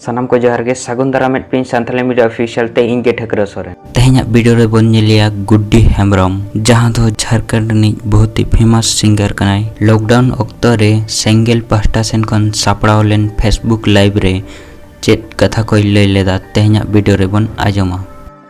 ᱥᱟᱱᱟᱢ ᱠᱚ ᱡᱚᱦᱟᱨ ᱜᱮ ᱥᱟᱹᱜᱩᱱ ᱫᱟᱨᱟᱢ ᱢᱮᱫ ᱯᱤᱱ ᱥᱟᱱᱛᱟᱞᱤ ᱢᱤᱰᱤᱭᱟ ᱚᱯᱷᱤᱥᱤᱭᱟᱞ ᱛᱮ ᱤᱧ ᱜᱮ ᱴᱷᱟᱹᱠᱨᱟᱹ ᱥᱚᱨᱮᱱ ᱛᱮᱦᱮᱧᱟᱜ ᱵᱷᱤᱰᱤᱭᱳ ᱨᱮ ᱵᱚᱱ ᱧᱮᱞᱮᱭᱟ ᱜᱩᱰᱰᱤ ᱦᱮᱢᱵᱨᱚᱢ ᱡᱟᱦᱟᱸ ᱫᱚ ᱡᱷᱟᱲᱠᱷᱚᱸᱰ ᱨᱤᱱᱤᱡ ᱵᱚᱦᱩᱛ ᱦᱤ ᱯᱷᱮᱢᱟᱥ ᱥᱤᱝᱜᱟᱨ ᱠᱟᱱᱟᱭ ᱞᱚᱠᱰᱟᱣᱩᱱ ᱚᱠᱛᱚ ᱨᱮ ᱥᱮᱝᱜᱮᱞ ᱯᱟᱦᱴᱟ ᱥᱮᱱ ᱠᱷᱚᱱ ᱥᱟᱯᱲᱟᱣ ᱞᱮᱱ ᱯᱷᱮᱥᱵᱩᱠ ᱞᱟᱭᱤᱵᱷ ᱨᱮ ᱪᱮᱫ ᱠᱟᱛᱷᱟ ᱠᱚᱭ ᱞᱟᱹᱭ ᱞᱮᱫᱟ ᱛᱮᱦᱮᱧᱟᱜ ᱵᱷᱤᱰᱤᱭᱳ ᱨᱮᱵᱚᱱ ᱟᱸᱡᱚᱢᱟ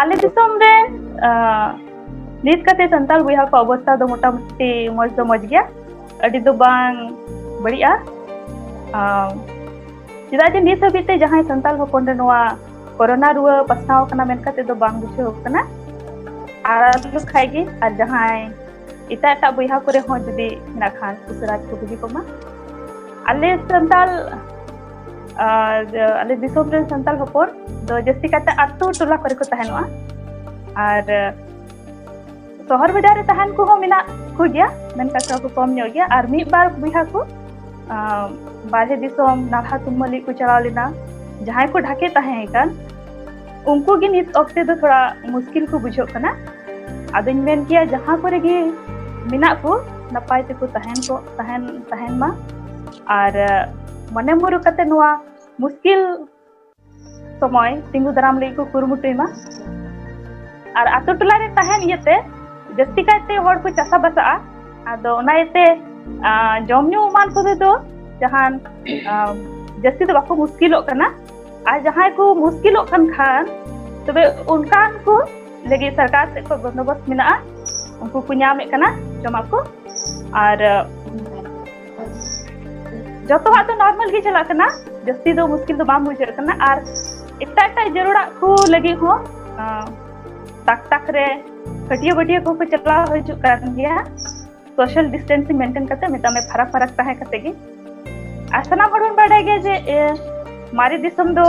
ᱟᱞᱮ ᱫᱤᱥᱚᱢ ᱨᱮ ᱱᱤᱛ ᱠᱟᱛᱮ ᱥᱟᱱᱛᱟᱲ ᱵᱚᱭᱦᱟ ᱠᱚ ᱚᱵᱚᱥᱛᱟ ᱫᱚ ᱢᱚᱴᱟᱢᱩᱴᱤ ᱢᱚᱡᱽ ᱫᱚ ᱢᱚᱡᱽ ᱜᱮᱭᱟ ᱟᱹᱰᱤ ᱫᱚ ᱵᱟᱝ ᱵᱟᱹᱲᱤᱡᱼᱟ ᱪᱮᱫᱟᱜ ᱡᱮ ᱱᱤᱛ ᱦᱟᱹᱵᱤᱡ ᱛᱮ ᱡᱟᱦᱟᱸᱭ ᱥᱟᱱᱛᱟᱲ ᱦᱚᱯᱚᱱ ᱨᱮ ᱱᱚᱣᱟ ᱠᱚᱨᱳᱱᱟ ᱨᱩᱣᱟᱹ ᱯᱟᱥᱱᱟᱣ ᱠᱟᱱᱟ ᱢᱮᱱ ᱠᱟᱛᱮ ᱫᱚ ᱵᱟᱝ ᱵᱩᱡᱷᱟᱹᱣ ᱠᱟᱱᱟ ᱟᱨ ᱟᱞᱚ ᱠᱷᱟᱡ ᱜᱮ ᱟᱨ ᱡᱟᱦᱟᱸᱭ ᱮᱴᱟᱜ ᱮᱴᱟᱜ ᱵᱚᱭᱦᱟ ᱠᱚᱨᱮ ᱦᱚᱸ ᱡᱩᱫᱤ ᱦᱮᱱᱟᱜ ᱠᱷᱟᱱ ᱩᱥᱟᱹᱨᱟ ᱠᱚ ᱵᱩᱜᱤ ᱠᱚᱢᱟ ᱟᱞᱮ ᱥᱟᱱᱛᱟᱲ ᱟᱨ ᱟᱞᱮ ᱫᱤᱥᱚᱢ ᱨᱮᱱ ᱥᱟᱱᱛᱟᱲ ᱦᱚᱯᱚᱱ ᱫᱚ ᱡᱟᱹᱥᱛᱤ ᱠᱟᱛᱮ ᱟᱛᱳ ᱴᱚᱞᱟ ᱠᱚᱨᱮ ᱠᱚ ᱛᱟᱦᱮᱱᱚᱜᱼᱟ ᱟᱨ ᱥᱚᱦᱚᱨ ᱵᱟᱡᱟᱨ ᱨᱮ ᱛᱟᱦᱮᱱ ᱠᱚᱦᱚᱸ ᱢᱮᱱᱟᱜ ᱠᱚ ᱜᱮᱭᱟ ᱢᱮᱱᱠᱷᱟᱱ ᱛᱷᱚᱲᱟ ᱠᱚ ᱠᱚᱢ ᱧᱚᱜ ᱜᱮᱭᱟ ᱟᱨ ᱢᱤᱫ ᱵᱟᱨ ᱵᱚᱭᱦᱟ ᱠᱚ ᱵᱟᱨᱦᱮ ᱫᱤᱥᱚᱢ ᱱᱟᱞᱦᱟ ᱛᱩᱢᱟᱹᱞᱤ ᱠᱚ ᱪᱟᱞᱟᱣ ᱞᱮᱱᱟ ᱡᱟᱦᱟᱸᱭ ᱠᱚ ᱰᱷᱟᱠᱮ ᱛᱟᱦᱮᱸ ᱠᱟᱱ ᱩᱱᱠᱩ ᱜᱮ ᱱᱤᱛ ᱚᱠᱛᱮ ᱫᱚ ᱛᱷᱚᱲᱟ ᱢᱩᱥᱠᱤᱞ ᱠᱚ ᱵᱩᱡᱷᱟᱹᱜ ᱠᱟᱱᱟ ᱟᱫᱚᱧ ᱢᱮᱱ ᱠᱮᱭᱟ ᱡᱟᱦᱟᱸ ᱠᱚᱨᱮ ᱜᱮ ᱢᱮᱱᱟᱜ ᱠᱚ ᱱᱟᱯᱟᱭ ᱛᱮᱠᱚ ᱛᱟᱦᱮᱱ ᱠᱚ ᱛᱟᱦᱮᱱ ᱛᱟᱦᱮᱱ ᱢᱟ ᱟᱨ ᱢᱚᱱᱮ ᱢᱩᱨᱩ ᱠᱟᱛᱮ ᱱᱚᱣᱟ ᱢᱩᱥᱠᱤᱞ ᱥᱚᱢᱚᱭ ᱛᱤᱸᱜᱩ ᱫᱟᱨᱟᱢ ᱞᱟᱹᱜᱤᱫ ᱠᱚ ᱠᱩᱨᱩᱢᱩᱴᱩᱭ ᱢᱟ ᱟᱨ ᱟᱛᱳ ᱴᱚᱞᱟ ᱨᱮ ᱛᱟᱦᱮᱱ ᱤᱭᱟᱹᱛᱮ ᱡᱟᱹᱥᱛᱤ ᱠᱟᱭᱛᱮ ᱦᱚᱲ ᱠᱚ ᱪᱟᱥᱟ ᱵᱟᱥᱟᱜᱼᱟ ᱟᱫᱚ ᱚᱱᱟ ᱤᱭᱟᱹᱛᱮ ᱡᱚᱢ ᱧᱩ ᱮᱢᱟᱱ ᱠᱚᱛᱮ ᱫᱚ ᱡᱟᱦᱟᱱ ᱡᱟᱹᱥᱛᱤ ᱫᱚ ᱵᱟᱠᱚ ᱢᱩᱥᱠᱤᱞᱚᱜ ᱠᱟᱱᱟ ᱟᱨ ᱡᱟᱦᱟᱸᱭ ᱠᱚ ᱢᱩᱥᱠᱤᱞᱚᱜ ᱠᱟᱱ ᱠᱷᱟᱱ ᱛᱚᱵᱮ ᱚᱱᱠᱟᱱ ᱠᱚ ᱞᱟᱹᱜᱤᱫ ᱥᱚᱨᱠᱟᱨ ᱥᱮᱫ ᱠᱷᱚᱱ ᱵᱚᱱᱫᱳᱵᱚᱥᱛ ᱢᱮᱱᱟᱜᱼᱟ ᱩᱱᱠᱩ ᱠᱚ ᱧᱟᱢᱮᱫ ᱠᱟᱱᱟ ᱡᱚᱢᱟᱜ ᱠᱚ ᱟᱨ ᱡᱚᱛᱚᱣᱟᱜ ᱫᱚ ᱱᱚᱨᱢᱟᱞ ᱜᱮ ᱪᱟᱞᱟᱜ ᱠᱟᱱᱟ ᱡᱟᱹᱥᱛᱤ ᱫᱚ ᱢᱩᱥᱠᱤᱞ ᱫᱚ ᱵᱟᱝ ᱵᱩᱡᱷᱟᱹᱜ ᱠᱟᱱᱟ ᱟᱨ ᱮᱴᱟᱜ ᱮᱴᱟᱜ ᱡᱟᱹᱨᱩᱲᱟᱜ ᱠᱚ ᱞᱟᱹᱜᱤᱫ ᱦᱚᱸ ᱛᱟᱠ ᱛᱟᱠ ᱨᱮ ᱠᱟᱹᱴᱤᱭᱟᱹ ᱵᱟᱹᱴᱤᱭᱟᱹ ᱠᱚᱠᱚ ᱪᱟᱞᱟᱣ ᱦᱤᱡᱩᱜ ᱠᱟᱱ ᱜᱮᱭᱟ ᱥᱳᱥᱟᱞ ᱰᱤᱥᱴᱮᱱᱥᱤᱝ ᱢᱮᱱᱴᱮᱱ ᱠᱟᱛᱮ ᱢᱮᱛᱟᱜ ᱢᱮ ᱯᱷᱟᱨᱟᱠ ᱯᱷᱟᱨᱟᱠ ᱛᱟᱦᱮᱸ ᱠᱟᱛᱮ ᱜᱮ ᱟᱨ ᱥᱟᱱᱟᱢ ᱦᱚᱲ ᱵᱚᱱ ᱵᱟᱰᱟᱭ ᱜᱮᱭᱟ ᱡᱮ ᱢᱟᱨᱮ ᱫᱤᱥᱚᱢ ᱫᱚ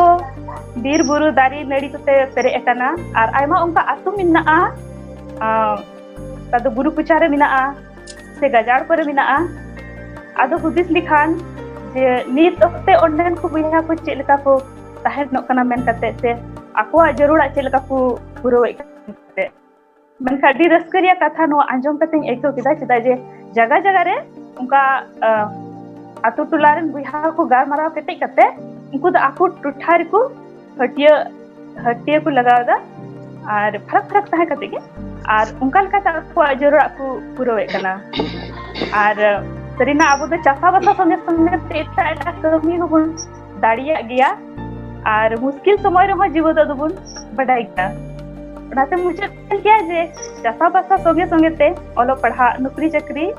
ᱵᱤᱨ ᱵᱩᱨᱩ ᱫᱟᱨᱮ ᱱᱟᱹᱲᱤ ᱠᱚᱛᱮ ᱯᱮᱨᱮᱡ ᱟᱠᱟᱱᱟ ᱟᱨ ᱟᱭᱢᱟ ᱚᱱᱠᱟ ᱟᱹᱛᱩ ᱢᱮᱱᱟᱜᱼᱟ ᱚᱠᱟ ᱫᱚ ᱵᱩᱨᱩ ᱠᱚᱪᱟᱨᱮ ᱢᱮᱱᱟᱜᱼᱟ ᱥᱮ ᱜᱟᱡᱟᱲ ᱠᱚᱨᱮ ᱢᱮᱱᱟᱜᱼᱟ ᱟᱫᱚ ᱦᱩᱫᱤᱥ ᱞᱮᱠᱷᱟᱱ ᱡᱮ ᱱᱤᱛ ᱚᱠᱛᱮ ᱚᱸᱰᱮᱱ ᱠᱚ ᱵᱚᱭᱦᱟ ᱠᱚ ᱪᱮᱫ ᱞᱮᱠᱟ ᱠᱚ ᱛᱟᱦᱮᱱᱚᱜ ᱠᱟᱱᱟ ᱢᱮᱱ ᱠᱟᱛᱮ ᱥᱮ ᱟᱠᱚᱣᱟᱜ ᱡᱟᱹᱨᱩᱲᱟᱜ ᱪᱮᱫ ᱞᱮᱠᱟ ᱠᱚ ᱯᱩᱨᱟᱹᱣᱮᱫ ᱠᱟᱱᱛᱮ ᱢᱮᱱᱠᱷᱟᱱ ᱟᱹᱰᱤ ᱨᱟᱹᱥᱠᱟᱹ ᱨᱮᱭᱟᱜ ᱠᱟᱛᱷᱟ ᱱᱚᱣᱟ ᱟᱸᱡᱚᱢ ᱠᱟᱛᱮᱧ ᱟᱹᱭᱠᱟᱹᱣ ᱠᱮᱫᱟ ᱪᱮᱫᱟᱜ ᱡᱮ ᱡᱟᱭᱜᱟ ᱡᱟᱭᱜᱟ ᱨᱮ ᱚᱱᱠᱟ ᱟᱛᱳ ᱴᱚᱞᱟ ᱨᱮᱱ ᱵᱚᱭᱦᱟ ᱠᱚ ᱜᱟᱞᱢᱟᱨᱟᱣ ᱠᱮᱴᱮᱡ ᱠᱟᱛᱮ ᱩᱱᱠᱩ ᱫᱚ ᱟᱠᱚ ᱴᱚᱴᱷᱟ ᱨᱮᱠᱚ ᱦᱟᱹᱴᱭᱟᱹ ᱦᱟᱹᱴᱭᱟᱹ ᱠᱚ ᱞᱟᱜᱟᱣ ᱮᱫᱟ ᱟᱨ ᱯᱷᱟᱨᱟᱠ ᱯᱷᱟᱨᱟᱠ ᱛᱟᱦᱮᱸ ᱠᱟᱛᱮ ᱜᱮ ᱟᱨ ᱚᱱᱠᱟ ᱞᱮᱠᱟᱛᱮ ᱟᱠᱚᱣᱟᱜ ᱡᱚᱨᱚᱲᱟᱜ ᱠᱚ ᱯᱩᱨᱟᱹᱣᱮᱫ ᱠᱟᱱᱟ ᱟᱨ ᱥᱟᱹᱨᱤᱱᱟᱜ ᱟᱵᱚ ᱫᱚ ᱪᱟᱥᱟᱵᱟᱥᱟ ᱥᱚᱸᱜᱮ ᱥᱚᱸᱜᱮ ᱛᱮ ᱮᱴᱟᱜ ᱮᱴᱟᱜ ᱠᱟᱹᱢᱤ ᱦᱚᱸᱵᱚᱱ ᱫᱟᱲᱮᱭᱟᱜ ᱜᱮᱭᱟ ᱟᱨ ᱢᱩᱥᱠᱤᱞ ᱥᱚᱢᱚᱭ ᱨᱮᱦᱚᱸ ᱡᱤᱣᱟᱹ ᱫᱚ ᱫᱚᱵᱚᱱ ᱵᱟᱰᱟᱭ ᱜᱮᱭᱟ ᱚᱱᱟᱛᱮ ᱢᱩᱪᱟᱹᱫ ᱠᱟᱱ ᱜᱮᱭᱟ ᱡᱮ ᱪᱟᱥᱟᱵᱟᱥᱟ ᱥᱚᱸᱜᱮ ᱥᱚᱸᱜᱮ ᱛᱮ ᱚᱞᱚᱜ ᱯᱟᱲᱦᱟᱜ ᱱᱩᱠᱨᱤ ᱪᱟᱹᱠᱨᱤ